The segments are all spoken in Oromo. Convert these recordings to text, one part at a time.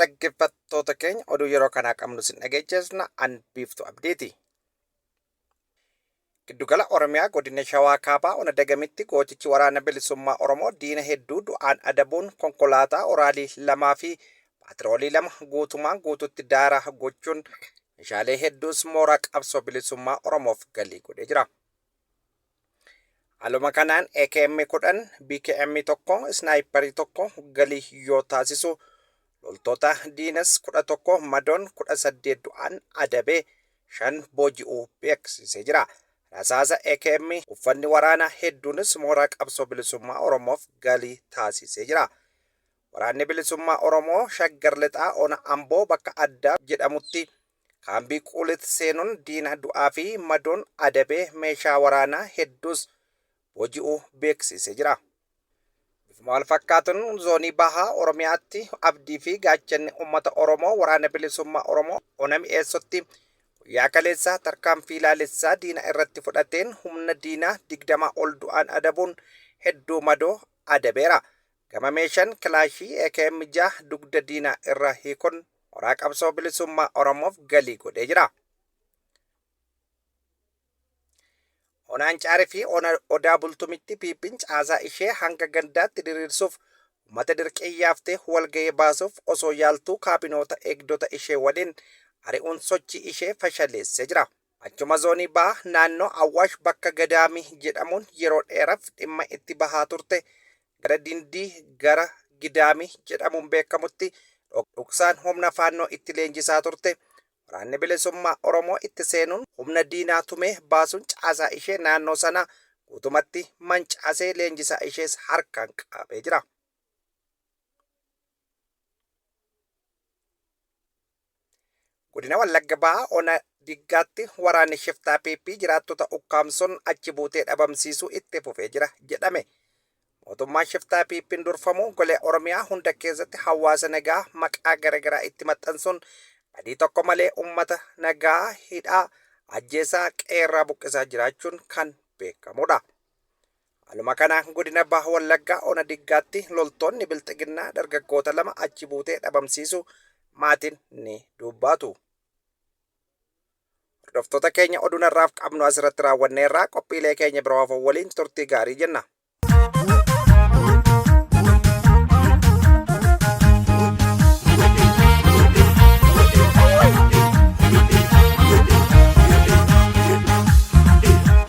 Dhaggeeffattoota keenya oduu yeroo kanaa qabnu sin dhageechifna an biiftu abdiiti. Giddugala Oromiyaa godina Shawaa Kaabaa ona dagamitti gootichi waraana bilisummaa Oromoo diina hedduu du'aan adabuun konkolaataa oraalii lamaa fi paatiroolii lama guutumaan guututti daaraa gochuun meeshaalee hedduus mooraa qabsoo bilisummaa Oromoof galii godhee jira. Haaluma kanaan AKM 10, BKM 1, Snaayipparii 1 galii yoo taasisu loltoota diinas 11 madoon 18 du'aan adabee 5 booji'uu beeksisee jira. Rasaasa AKM uffanni waraanaa hedduunis mooraa qabsoo bilisummaa Oromoof galii taasisee jira. Waraanni bilisummaa Oromoo Shaggar Lixaa Ona Amboo bakka addaa jedhamutti Kaambii Quulit seenuun diina du'aa fi madoon adabee meeshaa waraanaa hedduus booji'uu beeksiisee jira. Bifuma wal fakkaatuun zoonii Bahaa Oromiyaatti abdii fi gaachanni uummata Oromoo Waraana Bilisummaa Oromoo Ona Mi'eessotti guyyaa kaleessaa tarkaanfii laalessaa diina irratti fudhateen humna diinaa 20 ol du'aan adabuun hedduu madoo adabeera. Gama meeshaan kilaashii akm 6 dugda diinaa irraa hiikun moraa qabsoo bilisummaa Oromoof galii godhee jira. Ona Ancaarii fi Ona Odaa Bultumitti PP'n caasaa ishee hanga gandaatti diriirsuuf uummata dirqiin yaaftee walgahii baasuuf osoo yaaltuu kaabinoota eegdota ishee waliin ari'uun sochii ishee fashaleessee jira. Achuma Zoonii Baha naannoo Awwaash bakka Gadaamii jedhamuun yeroo dheeraf dhimma itti bahaa turte gara Dindii gara Gidaamii jedhamuun beekamutti dhoksaan humna Faannoo itti leenjisaa turte. Waraanni Bilisummaa Oromoo itti seenuun humna diinaa tumee baasuun caasaa ishee naannoo sanaa guutumatti mancaasee leenjisaa ishees harkaan qabee jira. Godina Wallagga Bahaa Ona Diggaatti waraanni shiftaa PP jiraattota ukkaamsuun achi buutee dhabamsiisuu itti fufee jira jedhame. Mootummaan shiftaa PP'n durfamu golee Oromiyaa hunda keessatti hawaasa nagaa maqaa garagaraa itti maxxansuun badii tokko malee uummata nagaa hidhaa ajjeesaa qeerraa buqqisaa jiraachuun kan beekamudha. Haaluma kanaan godina Baha Wallaggaa ona Diggaatti loltoonni Bilxiginnaa dargaggoota lama achi buutee dhabamsiisuu maatiin ni dubbaatu. Hordoftoota keenya oduun har'aaf qabnu asirratti raawwanneerraa qophiilee keenya biroo hafan waliin turtii gaarii jenna.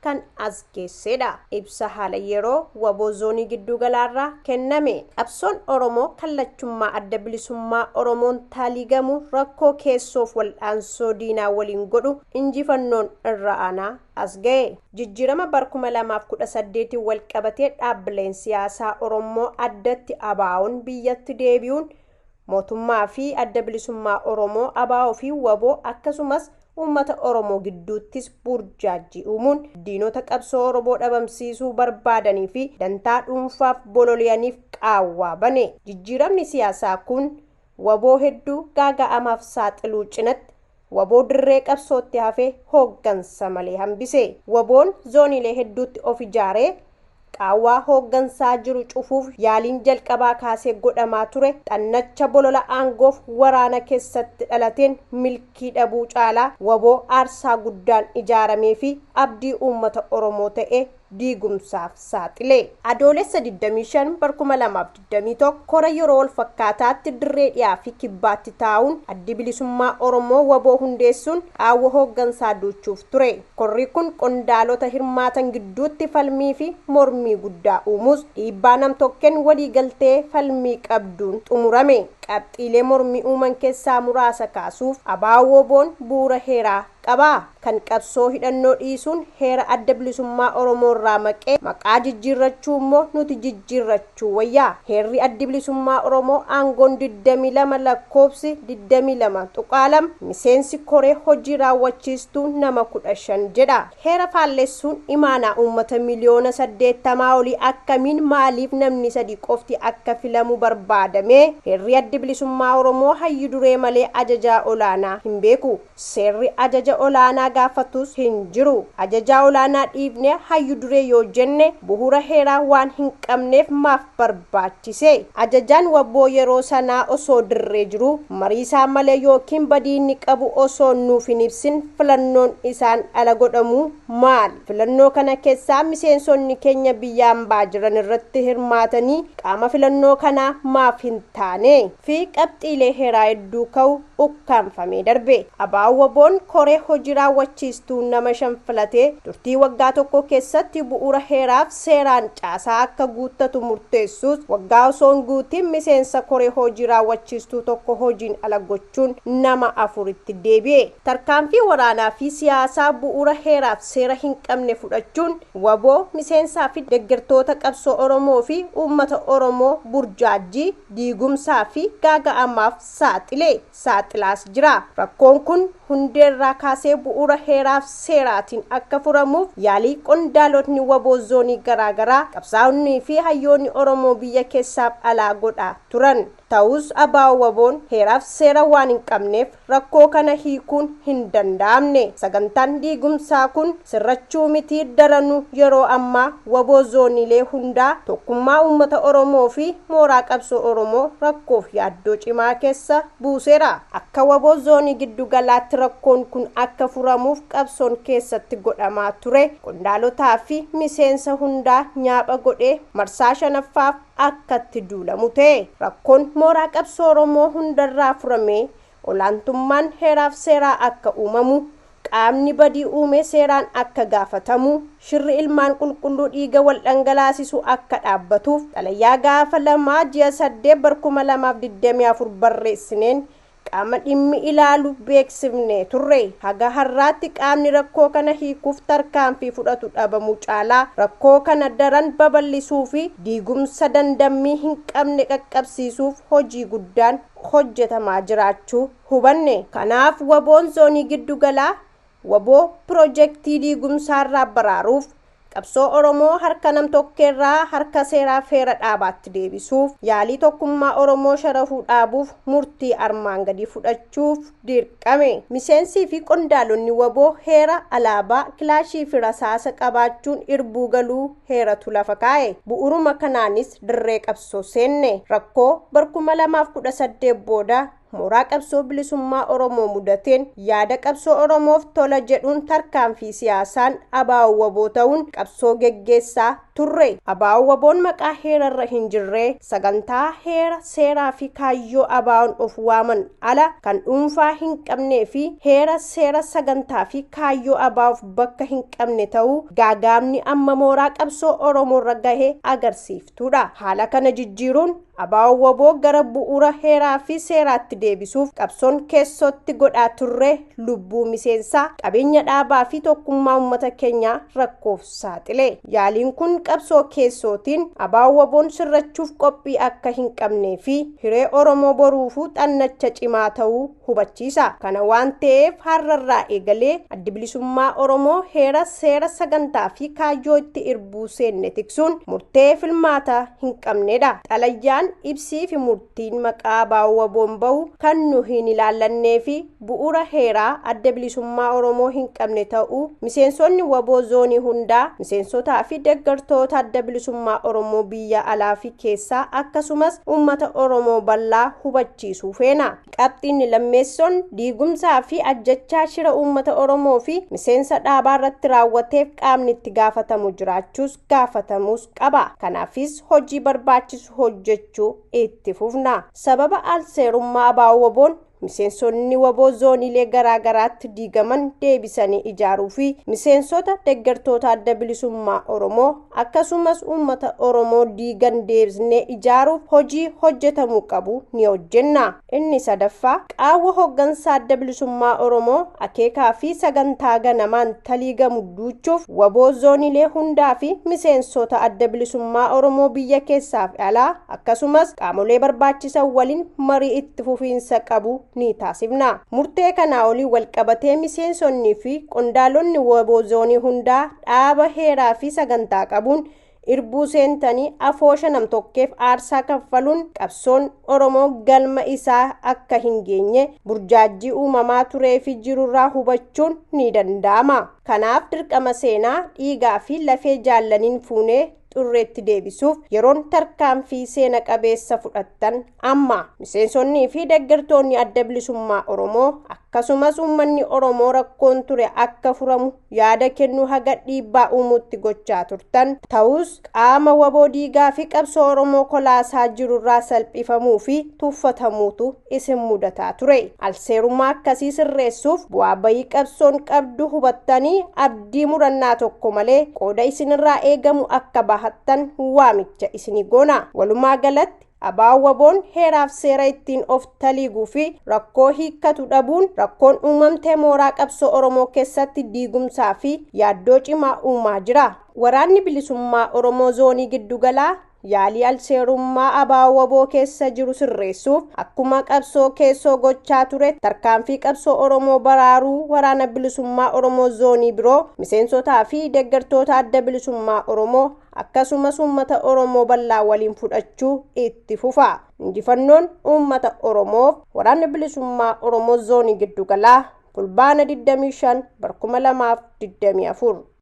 kan as geessee dha. Ibsa haala yeroo wbo Zoonii Gidduu Galaa irraa kenname. Qabsoon Oromoo kan lachummaa Adda Bilisummaa Oromoon taaliigamu rakkoo keessoof waldhaansoo diinaa waliin godhu injifannoon irra aanaa as gahe. Jijjiirama bar 2018n walqabatee dhaabbileen siyaasaa Orommoo addatti ABOn biyyatti deebi'uun Mootummaa fi Adda Bilisummaa Oromoo, ABO fi wbo, akkasumas uummata Oromoo gidduuttis buurjaajjii uumuun diinota qabsoo Oromoo dhabamsiisuu barbaadanii fi dantaa dhuunfaaf bololi'aniif qaawwaa bane. Jijjiiramni siyaasaa kun wbo hedduu gaaga'amaaf saaxiluu cinatti, Wbo dirree qabsootti hafee hooggansa malee hambise. Wboon zooniilee hedduutti of ijaaree qaawwaa hooggansaa jiru cufuuf yaaliin jalqabaa kaasee godhamaa ture xannacha bolola aangoof waraana kessatti dhalateen milkii dhabuu caalaa wbo aarsaa guddaan ijaaramee fi abdii uummata Oromoo ta'ee diigumsaaf saaxile. Adoolessa 25 bar 2021 kora yeroo walfakkaataatti dirree dhiyaa fi kibbaatti taa'uun Addi Bilisummaa Oromoo wbo hundeessuun qaawwa hooggansaa duuchuuf ture. Korri kun qondaalota hirmaatan gidduutti falmii fi mormii guddaa uumuus dhiibbaa nam-tokkeen walii galtee falmii qabduun xumurame. Qabxiilee mormii uuman keessaa muraasa kaasuuf, ABO-WBOn bu'uura heeraa qabaa? Kan qabsoo hidhannoo dhiisuun heera Adda Bilisummaa Oromoo irraa maqee maqaa jijjiirrachuu immoo nuti jijjiirrachuu wayya. Heerri Addi Bilisummaa Oromoo aangoon 22 lakkoofsi 22.2 miseensi koree hojii raawwachiistuu nama 15 jedha. Heera faallessuun imaanaa uummata miliyoona 80 olii akkamiin maaliif namni sadii qofti akka filamu barbaadamee? Heerri Addi Bilisummaa Oromoo hayyu duree malee ajajaa olaanaa hin beeku. Seerri ajaja olaanaa gaafatus hin jiru. Ajajaa olaanaa dhiifnee hayyu duree yoo jenne buhura heeraa waan hin qabneef maaf barbaachise? Ajajaan wbo yeroo sanaa osoo dirree jiruu marii isaa malee ykn badii inni qabu osoo nuuf hin ibsin filannoon isaan ala godhamuu maali? Filannoo kana kessaa miseensonni keenya biyya ambaa jiran irratti hirmaatanii qaama filannoo kanaa maaf hin taane? fi qabxiilee heeraa hedduu ka'u. ukkaamfamee darbe. Abo-WBOn koree hojii raawwachiistuu nama shan filatee turtii waggaa tokkoo keessatti bu'uura heeraaf seeraan caasaa akka guuttatu murteessuus waggaa osoo hin guutiin miseensa koree hojii raawwachiistuu tokko hojiin ala gochuun nama afuritti deebi'e. Tarkaanfii waraanaa fi siyaasaa bu'uura heeraaf seera hin qabne fudhachuun wbo, miseensaa fi deggertoota qabsoo Oromoo fi uummata Oromoo burjaajjii, diigumsaa fi gaaga'amaaf saaxile, saaxilaas jira. Rakkoon kun hundeerraa kaasee bu'uura heeraaf seeraatiin akka furamuuf yaalii qondaalotni wbo zoonii garaa garaa, qabsaa'onnii fi hayyoonni Oromoo biyya keessaaf alaa godhaa turan. Ta'us abo-wbo'n heeraaf seera waan hin qabneef Rakkoo kana hiikuun hin danda'amne. Sagantaan diigumsaa kun sirrachuu miti daranuu yeroo ammaa wbo zooniilee hundaa, tokkummaa uummata Oromoo fi mooraa qabsoo Oromoo rakkoof yaaddoo cimaa keessa buuseera. Akka wbo zoonii giddu galaatti rakkoon kun akka furamuuf qabsoon keessatti godhamaa ture qondaalotaa fi miseensa hundaa nyaapha godhee marsaa 5ffaaf, akka itti duulamu ta'e. Rakkoon mooraa qabsoo Oromoo hundarraa furamee olaantummaan heeraaf seeraa akka uumamu, qaamni badii uume seeraan akka gaafatamu, shirri ilmaan qulqulluu dhiiga wal dhangalaasisu akka dhaabbatuuf xalayaa gaafa 2 ji'a 8 bar 2024 barreessineen qaama dhimmi ilaalu beeksifne turre. Haga har'aatti qaamni rakkoo kana hiikuuf tarkaanfii fudhatu dhabamuu caalaa rakkoo kana daran babal'isuufi diigumsa dandammii hin qabne qaqqabsiisuuf hojii guddaan hojjetamaa jiraachuu hubanne. Kanaaf, wbo Zoonii Giddu Galaa Wbo pirojektii diigumsaarraa baraaruuf, qabsoo Oromoo harka nam-tokkeerraa harka seeraaf heera dhaabaatti deebisuuf, yaalii tokkummaa Oromoo sharafuu dhaabuuf murtii armaan gadii fudhachuuf dirqame. Miseensii fi qondaalonni wbo heera, alaabaa, kilaashii fi rasaasa qabaachuun irbuu galuu heeratu lafa kaa'e. Bu'uruma kanaanis dirree qabsoo seenne. Rakkoo bar 2018 booda mooraa qabsoo bilisummaa Oromoo mudateen yaada qabsoo Oromoof tola jedhuun tarkaanfii siyaasaan Abaa'oo Waboo ta'uun qabsoo geggeessaa turre. Abaa'oo Waboon maqaa heerarra hin jirree sagantaa heera, seeraa fi kaayyoo Abaa'oon of waaman ala kan dhuunfaa hin qabnee fi heera, seera, sagantaa fi kaayyoo Abaa'oof bakka hin qabne ta'uu gaagaa'amni amma mooraa qabsoo Oromoorra gahe agarsiifta. tuudha. Haala kana jijjiiruun Abaawoo wbo gara bu'uura heeraa fi seeraatti deebisuuf qabsoon keessootti godhaa turre lubbuu miseensaa, qabeenya dhaabaa fi tokkummaa ummata keenyaa rakkoof saaxile. Yaaliin kun qabsoo keessootiin Abaa-WBOn sirrachuuf qophii akka hin qabnee fi hiree Oromoo boruufuu xannacha cimaa ta'uu hubachiisa. Kana waan ta'eef har'arraa eegalee Addi Bilisummaa Oromoo heera, seera, sagantaa fi kaayyoo itti irbuu seenne tiksuun murtee filmaataa hin qabnedha. Xalayaan, ibsii fi murtiin maqaa abaa'oo waboon bahu kan nu hin ilaallannee fi bu'uura heeraa Adda Bilisummaa Oromoo hin qabne ta'uu miseensonni waboo zoonii hundaa, miseensotaa fi deggartoota Adda Bilisummaa Oromoo biyya alaa fi keessaa akkasumas uummata Oromoo bal'aa hubachiisuu feena. Qabxiinni lammeessoon diigumsaa fi ajjechaa shira uummata Oromoo fi miseensa dhaabaa irratti raawwateef qaamni itti gaafatamu jiraachuus gaafatamuus qaba. Kanaafis hojii barbaachisu hojjechuu itti fufna. Sababa alseerummaa abaa'oo waboon miseensonni waboo zooniilee garaa garaatti diigaman deebisanii ijaaruu fi miseensota deggertoota adda bilisummaa Oromoo akkasumas uummata Oromoo diigan deebisnee ijaaruuf hojii hojjetamu qabu ni hojjenna. Inni sadaffaa, qaawwa hoggansa Adda Bilisummaa Oromoo akeekaa fi sagantaa ganamaan taliigamu duuchuuf wbo zoonilee hundaa fi miseensoota Adda Bilisummaa Oromoo biyya keessaa fi alaa akkasumas qaamolee barbaachisan waliin marii itti fufiinsa qabu ni taasifna. Murtee kanaa olii walqabatee miseensonni fi qondaalonni wbo zoonii hundaa dhaaba heeraa fi sagantaa qabuun irbuu seentanii afoosha namtokkeef aarsaa kaffaluun qabsoon Oromoo galma isaa akka hin geenye burjaajjii uumamaa turee fi jirurraa hubachuun ni danda'ama. Kanaaf dirqama seenaa, dhiigaa fi lafee jaallaniin fuunee xurreetti deebisuuf yeroon tarkaanfii seena qabeessa fudhattan amma miseensonnii fi deeggartoonni adda bilisummaa Oromoo akkasumas uummanni Oromoo rakkoon ture akka furamu yaada kennuu haga dhiibbaa uumuutti gochaa turtan ta'us qaama waboo diigaa fi qabsoo Oromoo kolaasaa jirurraa salphifamuu fi tuffatamuutu isin mudataa ture. Alseerummaa akkasii sirreessuuf bu'aa bayii qabsoon qabdu hubattanii abdii murannaa tokko malee qooda isinirraa eegamu akka bahattan waamicha isinii goona. Walumaa galatti Aba-Waboon heeraaf seera ittiin of taliiguu fi rakkoo hiikkatu dhabuun rakkoon uumamte mooraa qabsoo Oromoo keessatti diigumsaa fi yaaddoo cimaa uumaa jira. Waraanni Bilisummaa Oromoo Zoonii Giddugalaa Yaalii alseerummaa ABO-wbo keessa jiru sirreessuuf akkuma qabsoo keessoo gochaa ture tarkaanfii qabsoo Oromoo baraaruu Waraana Bilisummaa Oromoo Zoonii biroo, miseensotaa fi deggertoota Adda Bilisummaa Oromoo akkasumas uummata Oromoo bal'aa waliin fudhachuu itti fufa. Injifannoon uummata Oromoof! Waraanni Bilisummaa Oromoo Zoonii Giddugalaa, Fulbaana 25 bar 2024.